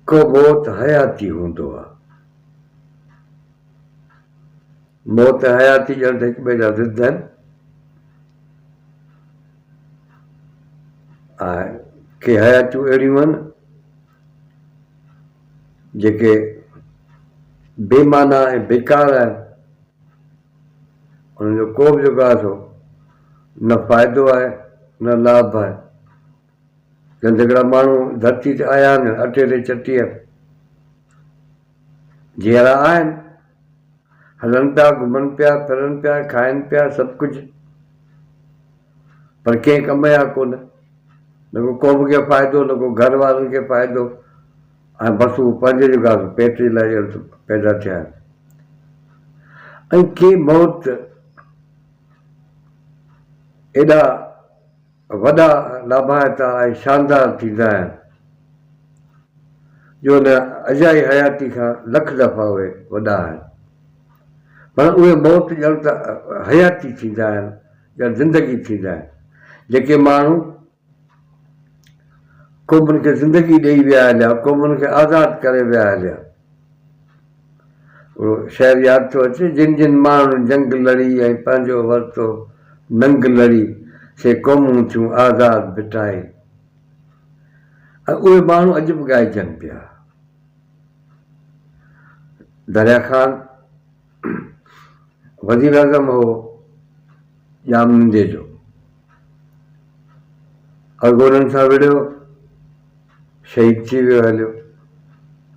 ڪو موت حياتي هوندو آ. موت ۽ حياتي ڄڻ ته هڪٻئي جا ضد آهن ۽ ڪي حياتيون اهڙيون آهن جيڪي بي معنيٰ ۽ بيڪار آهن. انهن جو ڪو به جيڪو آهي سو نه فائدو آهي نه لاڀ آهي. گندگڙا ماڻهو ڌرتي تي آيا آهن، اٽي تي چٽيء جيئرا آهن. هلن پيا، گهمن پيا، ڦرن پيا، کائن پيا، سڀ ڪجهه، پر ڪنهن ڪم جا ڪونه. نه ڪو قوم کي فائدو، نه ڪو گهر وارن کي فائدو ۽ بس اهو پنهنجي جو گهاس پيٽ جي لاء ڄڻ ته پيدا ٿيا آهن. ۽ ڪي موت ايڏا. وڏا لاڀائتا ۽ شاندار ٿيندا آهن، جو هن اجائي حياتي کان لک دفعا اهي وڏا آهن، پر اهي موت ڄڻ ته حياتي ٿيندا آهن، ڄڻ زندگي ٿيندا آهن، جيڪي ماڻهو قومن کي زندگي ڏئي ويا هليا، قومن کي آزاد ڪري ويا هليا. اهو شعر ياد ٿو اچي، جن جن ماڻهن جنگ لڙي ۽ پنهنجو ورتو ننگ لڙي، سي قومون ٿيون آزاد ڀٽائي. اهي ماڻهو اڄ به ڳائجن پيا. دريا خان وزيراعظم هو ڄام نندي جو. اڳ هو انهن سان وڙهيو، شهيد ٿي ويو هليو،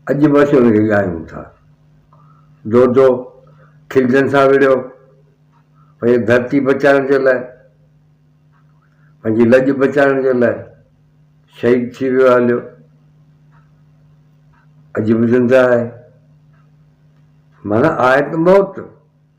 اڄ به اسين ان کي ڳايون ٿا. دودو کلجن سان وڙهيو، پنهنجي ڌرتي بچائڻ جي لاء، پنهنجي لڄ بچائڻ جي لاء شهيد ٿي ويو هليو، اڄ به زنده آهي. معنيٰ آهي ته موت،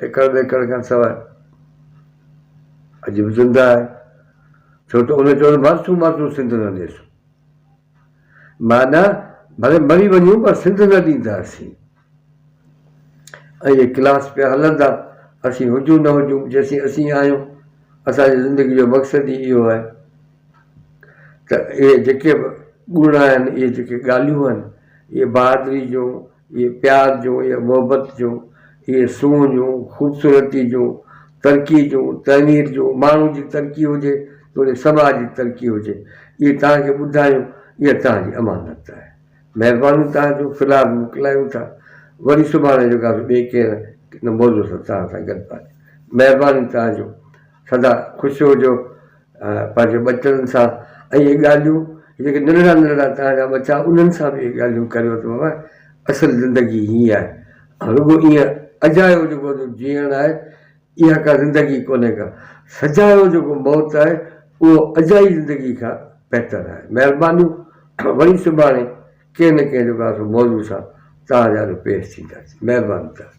ايڪڙ ٻيڪڙ کان سواء عجيب زندهه آهي، ڇو ته ان چيو ته مارچون مارچون سنڌ نه ڏيسون. معنيٰ ڀلي مري وڃون پر سنڌ نه ڏينداسين. اهي ڪلاس پيا هلندا، اسين هجون نه هجون، جيسين اسين آهيون، اسان جي زندگي جو مقصد ئي اهو آهي ته اهي جيڪي به ڳوڙها آهن، اهي جيڪي ڳالهيون آهن، اهي بهادري جون، اهي پيار جون، اهي محبت جون، اهي سونهن جون، خوبصورتي جون، ترقي جون، تعمير جون، ماڻهو جي ترقي هجي توڙي سماج جي ترقي هجي، اهي توهان کي ٻڌايون، اها توهان جي امانت آهي. مهربانيون توهان جون، في الحال موڪلايون ٿا، وري سڀاڻي جيڪاسو ٻئي ڪنهن نه ڪنهن موضوع سان توهان سان گڏ پاتي. مهربانيون توهان جون، سدا خوش هجو، پنهنجي ٻچڙن سان اهي ڳالهيون جيڪي ننڍڙا ننڍڙا توهان جا ٻچا انهن سان به اهي ڳالهيون ڪريو ته بابا اصل زندگي هي آهي ۽ رڳو ايئن اجايو جيڪو جيئڻ آهي اها ڪا زندگي ڪونهي ڪا سجايو جيڪو موت آهي اهو اجائي زندگي کان بهتر آهي مهربانيون وري سڀاڻي ڪنهن نه ڪنهن جو ڪا سو موضوع سان توهان جا جو پيش ٿينداسين مهرباني توهان جي.